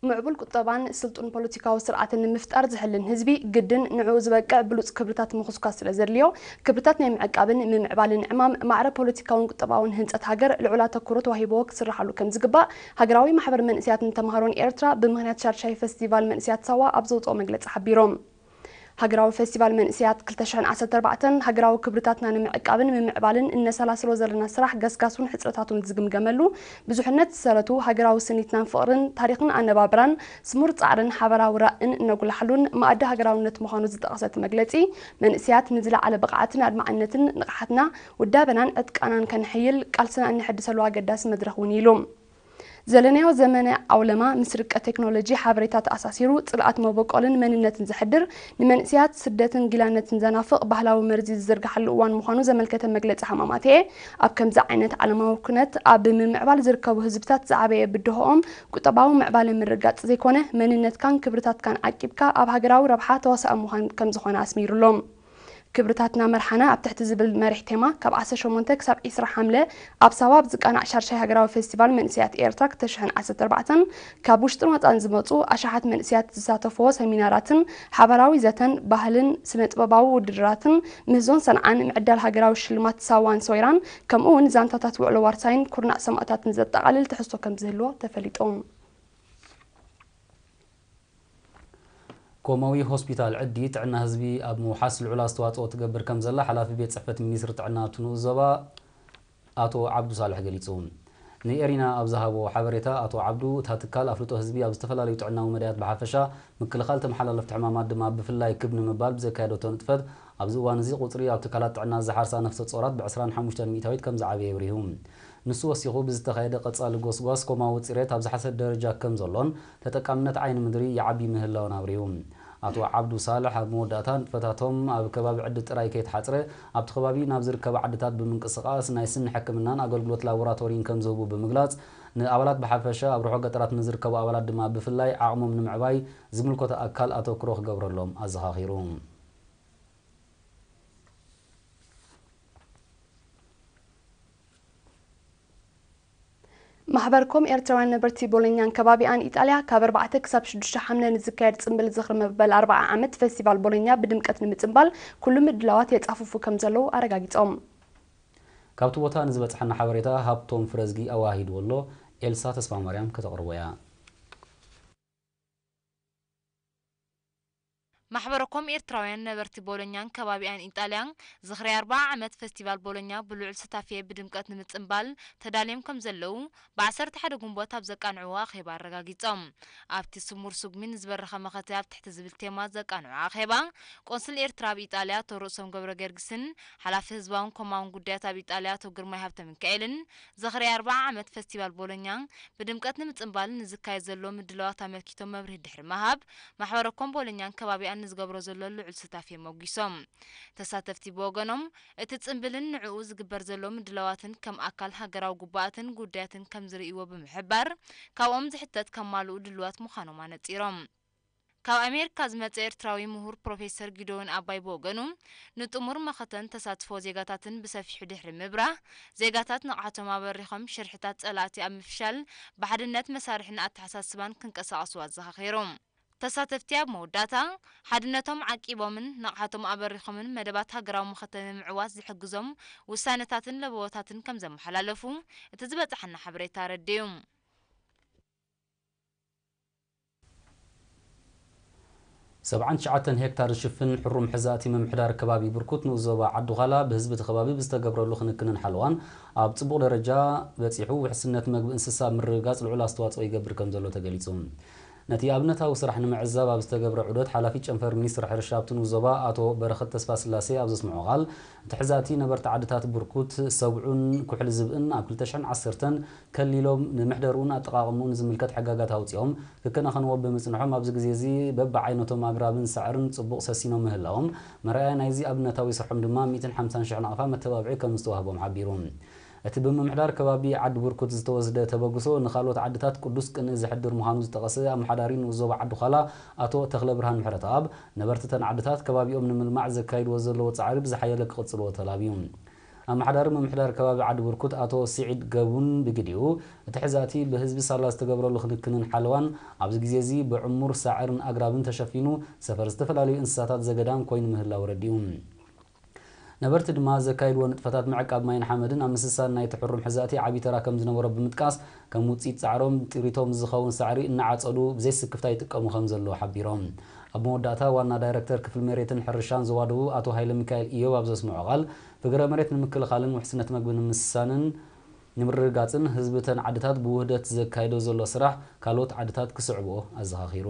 ምዕቡል ቁጠባን ስልጡን ፖለቲካዊ ስርዓትን ንምፍጣር ዝሕልን ህዝቢ ግድን ንዕኡ ዝበቅዕ ብሉፅ ክብርታት ምኹስኳስ ስለዘድልዮ ክብርታት ናይ ምዕቃብን ምምዕባልን ዕማም ማዕረ ፖለቲካውን ቁጠባውን ህንፀት ሃገር ልዑል ኣተኩሮ ተዋሂብዎ ክስርሓሉ ከምዝግባእ ሃገራዊ ማሕበር መንእሰያትን ተምሃሮን ኤርትራ ብምኽንያት ሻድሻይ ፈስቲቫል መንእሰያት ሳዋ ኣብ ዘውፅኦ መግለፂ ሓቢሮም። ሃገራዊ ፈስቲቫል መንእሰያት ክልተ ሽሕን ዓሰርተ ኣርባዕተን፣ ሃገራዊ ክብርታትና ንምዕቃብን ምምዕባልን እነሰላስሎ ዘለና ስራሕ ገስጋሱን ሕጽረታቱን ዝግምገመሉ፣ ብዙሕነት ዝሰረቱ ሃገራዊ ስኒትናን ፍቕርን፣ ታሪኽን ኣነባብራን፣ ስሙር ጻዕርን ሓበራዊ ራእን እነጉላሓሉን መኣዲ ሃገራውነት ምዃኑ ዝጠቐሰ እቲ መግለጺ፣ መንእሰያት ንዝለዓለ ብቕዓትን ኣድማዕነትን ንቕሓትና፣ ውዳበናን ዕጥቃናን ከነሐይል ቃልስና እነሐድሰሉ ኣገዳሲ መድረኽ'ውን ኢዩ ኢሉ። ዘለናዮ ዘመነ ዓውለማ ምስ ርቀት ቴክኖሎጂ ሓበሬታ ተኣሳሲሩ ጽልኣት መበቆልን መንነትን ዘሕድር፣ ንመንእሰያት ስደትን ጊላነትን ዘናፍቕ ባህላዊ መርዚ ዝዝርግሓሉ እዋን ምዃኑ ዘመልከተ መግለጺ ሃማማተኤ፣ ኣብ ከምዚ ዓይነት ዓለማዊ ኩነት ኣብ ምምዕባል ዝርከቡ ህዝብታት ዝዓበየ ብድሆኦም ቁጠባዊ ምዕባለ ምርግጋጽ ዘይኮነ መንነትካን ክብርታትካን ዓቂብካ ኣብ ሃገራዊ ረብሓ ተዋሳኢ ምዃን ከምዝኾነ ኣስሚሩሎም። ክብርታትና መርሓና ኣብ ትሕቲ ዝብል መሪሕ ቴማ ካብ ዓሰርተ ሸሞንተ ክሳብ ዕስራ ሓምለ ኣብ ሳዋ ኣብ ዝቃናዕ ሻድሻይ ሃገራዊ ፈስቲቫል መንእሰያት ኤርትራ ክልተ ሽሕን ዓሰርተ ኣርባዕተን ካብ ውሽጥን ወጻእን ዝመጹ ኣሽሓት መንእሰያት ዝሳተፍዎ ሰሚናራትን ሓባራዊ ዘተን ባህልን ስነጥበባዊ ውድድራትን ምህዞን ሰንዓን ምዕዳል ሃገራዊ ሽልማት ሳዋን ሰዌራን ከምኡ'ውን ዛንታታት ውዕሎ ዋርሳይን ኩርናዕ ሰማእታትን ዘጠቓልል ትሕዝቶ ከምዝህልዎ ተፈሊጡ። ኮማዊ ሆስፒታል ዕዲ ጥዕና ህዝቢ ኣብ ምውሓስ ልዑል ኣስተዋፅኦ ትገብር ከምዘላ ሓላፊ ቤት ፅሕፈት ሚኒስትሪ ጥዕና ኣብቲ ንኡስ ዞባ ኣቶ ዓብዱ ሳልሕ ገሊፁ። ንኤሪና ኣብ ዝሃቦ ሓበሬታ ኣቶ ዓብዱ፣ እታ ትካል ኣፍልጦ ህዝቢ ኣብ ዝተፈላለዩ ጥዕናዊ መዳያት ብሓፈሻ፣ ምክልኻል ተመሓላለፍቲ ሕማማት ድማ ብፍላይ ክብ ንምባል ብዘካየደቶ ንጥፈት ኣብዚ እዋን እዚ ቁፅሪ ኣብ ትካላት ጥዕና ዝሓርሳ ነፍሰ ፆራት ብዕስራን ሓሙሽተን ሚኢታዊት ከምዝዓበየ ኣብሪሁ። ንሱ ወሲኹ፣ ብዝተኻየደ ቀፃሊ ጎስጓስ ኮማዊ ፅሬት ኣብ ዝሓሰ ደረጃ ከምዘሎን ተጠቃምነት ዓይኒ ምድሪ ይዓቢ ምህላዉን ኣብሪሁ። ኣቶ ዓብዱ ሳልሕ ኣብ መወዳእታ፣ ንጥፈታቶም ኣብ ከባቢ ዕዲ ጥራይ ከይተሓጽረ፣ ኣብቲ ከባቢ ናብ ዝርከባ ዓድታት ብምንቅስቓስ ናይ ስኒ ሕክምናን ኣገልግሎት ላቦራቶሪን ከምዝህቡ ብምግላጽ፣ ንኣባላት ብሓፈሻ ኣብ ርሑቕ ገጠራት ንዝርከቡ ኣባላት ድማ ብፍላይ ዓቕሞም ንምዕባይ ዝምልከቶ ኣካል ኣተኩሮ ክገብረሎም ኣዘኻኺሩ። ማሕበር ኮም ኤርትራውያን ነበርቲ ቦሎኛን ከባቢኣን ኢጣልያ ካብ ኣርባዕተ ክሳብ ሽዱሽተ ሓምለ ንዝካየድ ጽምብል ዝኽሪ መበል ኣርብዓ ዓመት ፈስቲቫል ቦሎኛ ብድምቀት ንምጽምባል ኩሉ ምድላዋት የጻፉፉ ከምዘለዉ ኣረጋጊጾም። ካብቲ ቦታ ንዝበጽሓና ሓበሬታ ሃብቶም ፍረዝጊ ኣወሃሂድዎ ኣሎ። ኤልሳ ተስፋማርያም ከተቕርቦ'ያ። ማሕበረኮም ኤርትራውያን ነበርቲ ቦሎኛን ከባቢኣን ኢጣልያ፣ ዝኽሪ ኣርብዓ ዓመት ፈስቲቫል ቦሎኛ ብልዑል ሱታፌ ብድምቀት ንምጽንባል ተዳልዮም ከምዘለዉ፣ ብ ዓሰርተ ሓደ ግንቦት ኣብ ዘቃንዕዎ ኣኼባ ኣረጋጊጾም። ኣብ'ቲ ስሙር ስጉሚ ንዝበረኸ መኸተ ኣብ ትሕቲ ዝብል ቴማ ዘቃንዑ ኣኼባ፣ ቆንስል ኤርትራ ኣብ ኢጣልያ ኣቶ ርእሶም ገብረገርግስን፣ ሓላፊ ህዝባውን ኮማውን ጉዳያት ኣብ ኢጣልያ ኣቶ ግርማይ ሃብተሚካኤልን፣ ዝኽሪ ኣርብዓ ዓመት ፈስቲቫል ቦሎኛ ብድምቀት ንምጽንባልን ንዝካየድ ዘሎ ምድላዋት ኣመልኪቶም መብርሂ ድሕሪ ምሃብ፣ ማሕበረ ኮም ቦሎኛን ከባቢኣን ንዝገብሮ ዘሎ ልዑል ስታፍ የሞጊሶም። ተሳተፍቲ ብወገኖም፣ እቲ ጽንብልን ንዕኡ ዝግበር ዘሎ ምድላዋትን ከም ኣካል ሃገራዊ ጉባኣትን ጉዳያትን ከምዝርእይዎ ብምሕባር፣ ካብኦም ዝሕተት ከማልኡ ድሉዋት ምዃኖም ኣነጺሮም። ካብ ኣሜሪካ ዝመጸ ኤርትራዊ ምሁር ፕሮፌሰር ጊደዎን ኣባይ ብወገኑ፣ ንጥሙር መኸተን ተሳትፎ ዜጋታትን ብሰፊሑ ድሕሪ ምብራህ፣ ዜጋታት ንቕሓቶም ኣበሪኾም ሽርሕታት ጸላእቲ ኣብ ምፍሻል ብሓድነት መሳርሕን ኣተሓሳስባን ክንቀሳቐሱ ኣዘኻኺሩ። ተሳተፍቲ ኣብ መወዳእታ፣ ሓድነቶም ዓቂቦምን ንቕሓቶም ኣበሪኾምን መደባት ሃገራዊ መኸተ ንምዕዋት ዝሕግዞም ውሳነታትን ለበዋታትን ከምዘመሓላለፉ እቲ ዝበጸሓና ሓበሬታ ኣረዲኡ። ሰብዓን ትሽዓተን ሄክታር ዝሽፍን ሕሩም ሕዛእቲ ምምሕዳር ከባቢ ብርኩት ንኡስ ዞባ ዓዲ-ዃላ ብህዝቢ እቲ ከባቢ ብዝተገብረሉ ክንክንን ሓለዋን ኣብ ፅቡቕ ደረጃ በፂሑ ውሕስነት መግቢ እንስሳ ኣብ ምርግጋፅ ልዑል ኣስተዋፅኦ ይገብር ከምዘሎ ተገሊፁ። ነቲ ኣብነታዊ ስራሕ ንምዕዛብ ኣብ ዝተገብረ ዑደት ሓላፊ ጨንፈር ሚኒስትሪ ሕርሻ ኣብቲ ንኡስ ዞባ ኣቶ በረኸት ተስፋስላሴ ኣብ ዘስምዖ ቃል እቲ ሕዛእቲ ነበርቲ ዓድታት ብርኩት ሰብዑን ኩሕሊ ዝብእን ኣብ ክልተ ሽሕን ዓሰርተን ከሊሎም ንመሕደርኡን ኣጠቓቕምኡን ዝምልከት ሕጋጋት ኣውጺኦም ክከናኸንዎ ብምጽንሖም ኣብዚ ግዜ እዚ በብዓይነቶም ኣግራብን ሳዕርን ጽቡቕ ሰሲኖም ምህላዎም መርኣያ ናይዚ ኣብነታዊ ስርሖም ድማ ሚእትን ሓምሳን ሽሕ ናቕፋ መተባብዒ ከምዝተዋህቦም ሓቢሩ። እቲ ብምምሕዳር ከባቢ ዓዲ ብርኩት ዝተወስደ ተበግሶ ንካልኦት ዓድታት ቅዱስ ቅንኢ ዘሕድር ምዃኑ ዝጠቐሰ ኣመሓዳሪ ንኡስ ዞባ ዓዲ ዃላ ኣቶ ተኽለብርሃን ምሕረተኣብ ነበርቲ እተን ዓድታት ከባቢኦም ንምልማዕ ዘካይድዎ ዘለዎ ጻዕሪ ብዝሓየለ ክቕጽልዎ ተላብዩ። ኣመሓዳሪ ምምሕዳር ከባቢ ዓዲቡርኩት ኣቶ ሲዒድ ገቡን ብግዲኡ፣ እቲ ሕዛእቲ ብህዝቢ ሳላ ዝተገብረሉ ክንክንን ሓለዋን፣ ኣብዚ ግዜ'ዚ ብዕሙር ሳዕርን ኣግራብን ተሸፊኑ ሰፈር ዝተፈላለዩ እንስሳታት ዘገዳም ኮይኑ ምህላው ኣረዲኡ። ነበርቲ ድማ ዘካይድዎ ንጥፈታት ምዕቃብ ማይን ሓመድን ኣብ ምስሳን ናይቲ ሕሩም ሕዛእቲ ዓቢ ተራ ከምዝነበሮ ብምጥቃስ፣ ከም ውፅኢት ፃዕሮም ንጥሪቶም ዝኸውን ሳዕሪ እናዓፀዱ ብዘይ ስክፍታ ይጥቀሙ ከምዘለዉ ሓቢሮም። ኣብ መወዳእታ ዋና ዳይሬክተር ክፍሊ መሬትን ሕርሻን ዞባ ደቡብ ኣቶ ሃይለሚካኤል ኢዮብ ኣብ ዘስመዖ ቃል ፍግረ መሬት ንምክልኻልን ውሕስነት መግቢ ንምስሳንን ንምርግጋፅን ህዝቢ እተን ዓድታት ብውህደት ዘካይዶ ዘሎ ስራሕ ካልኦት ዓድታት ክስዕብኦ ኣዘኻኺሩ።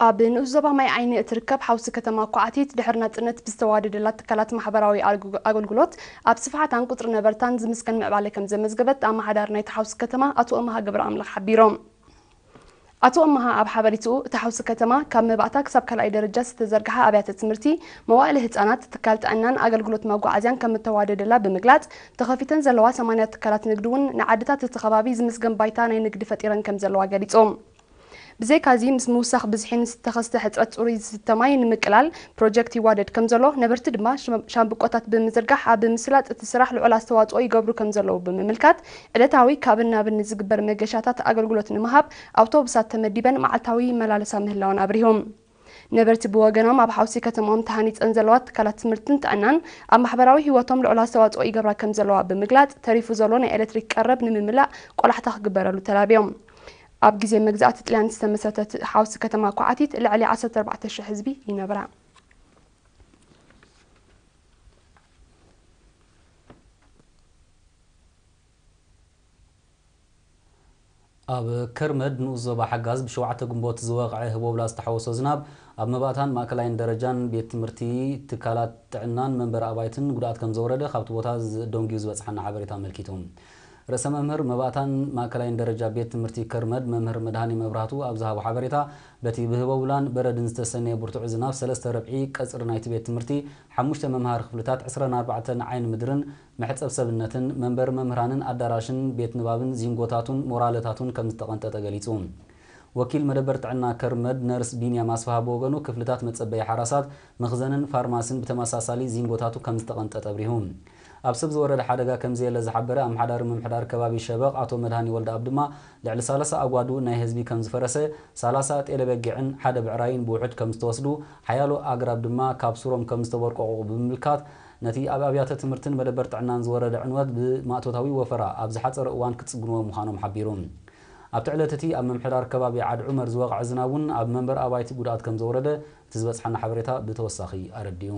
ኣብ ንኡስ ዞባ ማይ ዓይኒ እትርከብ ሓውሲ ከተማ ኳዕቲት ድሕሪ ናጽነት ብዝተዋደደላ ትካላት ማሕበራዊ ኣገልግሎት ኣብ ስፍሓታን ቁጽሪ ነበርታን ዝምስገን ምዕባለ ከም ዘመዝገበት ኣመሓዳሪ ናይታ ሓውሲ ከተማ ኣቶ እምሃ ገብረኣምላኽ ሓቢሮም። ኣቶ ኣመሃ ኣብ ሓበሬትኡ፣ እታ ሓውሲ ከተማ ካብ መባእታ ክሳብ ካልኣይ ደረጃ ዝተዘርግሓ ኣብያተ ትምህርቲ፣ መዋእለ ህጻናት፣ ትካል ጥዕናን ኣገልግሎት መጓዓዝያን ከምእተዋደደላ ብምግላጽ፣ ተኸፊተን ዘለዋ ሰማንያ ትካላት ንግዲ'ውን ንዓድታት እቲ ከባቢ ዝምስገን ባይታ ናይ ንግዲ ፈጢረን ከምዘለዋ ገሊጹ። ብዘይካ'ዚ ምስ ምውሳኽ ብዝሒ ምስ ዝተኸስተ ሕጽረት ጽሩይ ዝስተ ማይ ንምቅላል ፕሮጀክት ይዋደድ ከምዘሎ፣ ነበርቲ ድማ ሻምብቆታት ብምዝርጋሕ ኣብ ምስላጥ እቲ ስራሕ ልዑል ኣስተዋጽኦ ይገብሩ ከምዘለዉ ብምምልካት፣ ዕለታዊ ካብን ናብን ንዝግበር መገሻታት ኣገልግሎት ንምሃብ ኣውቶቡሳት ተመዲበን መዓልታዊ ይመላለሳ ምህላወን ኣብሪሆም። ነበርቲ ብወገኖም ኣብ ሓውሲ ከተምኦም ተሃኒፀን ዘለዋ ትካላት ትምህርትን ጥዕናን ኣብ ማሕበራዊ ህይወቶም ልዑል ኣስተዋፅኦ ይገብራ ከምዘለዋ ብምግላፅ ተሪፉ ዘሎ ናይ ኤሌክትሪክ ቀረብ ንምምላእ ቆላሕታ ክግበረሉ ተላብዮም። ኣብ ግዜ መግዛእቲ ጥልያን ዝተመስረተት ሓውሲ ከተማ ኳዓቲት ልዕሊ ዓሰርተ ኣርባዕተ ሽሕ ህዝቢ ይነብራ። ኣብ ከርመድ ንኡስ ዞባ ሓጋዝ ብሸውዓተ ግንቦት ዝወቕዐ ህቦብላ ዝተሓወሶ ዝናብ ኣብ መባእታን ማእከላይን ደረጃን ቤት ትምህርቲ፣ ትካላት ጥዕናን መንበሪ ኣባይትን ጉድኣት ከምዘውረደ ካብቲ ቦታ ደንጒዩ ዝበጽሓና ሓበሬታ ኣመልኪቱ። ርእሰ መምህር መባእታን ማእከላይን ደረጃ ቤት ትምህርቲ ከርመድ መምህር መድሃኔ መብራህቱ ኣብ ዝሃቦ ሓበሬታ በቲ ብህቦብላን በረድን ዝተሰነየ ብርቱዕ ዝናብ ሰለስተ ርብዒ ቀጽሪ ናይቲ ቤት ትምህርቲ ሓሙሽተ መምሃሪ ክፍልታት ዕስራን ኣርባዕተን ዓይኒ ምድርን መሕጸብ ሰብነትን መንበሪ መምህራንን ኣዳራሽን ቤት ንባብን ዚንጎታቱን ሞራለታቱን ከም ዝተቐንጠጠ ገሊጹ። ወኪል መደበር ጥዕና ከርመድ ነርስ ቢንያም ኣስፍሃ ብወገኑ ክፍልታት መጸበዪ ሓራሳት፣ መኽዘንን ፋርማሲን ብተመሳሳሊ ዚንጎታቱ ከም ዝተቐንጠጠ ኣብሪሁ። ኣብ ሰብ ዝወረደ ሓደጋ ከም ዘየለ ዝሓበረ ኣመሓዳሪ ምምሕዳር ከባቢ ሸበቕ ኣቶ መድሃኔ ወልደኣብ ድማ ልዕሊ ሰላሳ ኣጓዱ ናይ ህዝቢ ከም ዝፈረሰ፣ ሰላሳ ጤለ በጊዕን ሓደ ብዕራይን ብውሕጅ ከም ዝተወስዱ፣ ሓያሎ ኣግራብ ድማ ካብ ሱሮም ከም ዝተቦርቆቑቑ ብምምልካት፣ ነቲ ኣብ ኣብያተ ትምህርትን መደበር ጥዕናን ዝወረደ ዕንወት ብማእቶታዊ ወፈራ ኣብ ዝሓጸረ እዋን ክጽግንዎ ምዃኖም ሓቢሩ። ኣብቲ ዕለት እቲ ኣብ ምምሕዳር ከባቢ ዓድ ዑመር ዝወቕዐ ዝናብ እውን ኣብ መንበሪ ኣባይቲ ጉድኣት ከምዘውረደ እቲ ዝበጽሓና ሓበሬታ ብተወሳኺ ኣረዲኡ።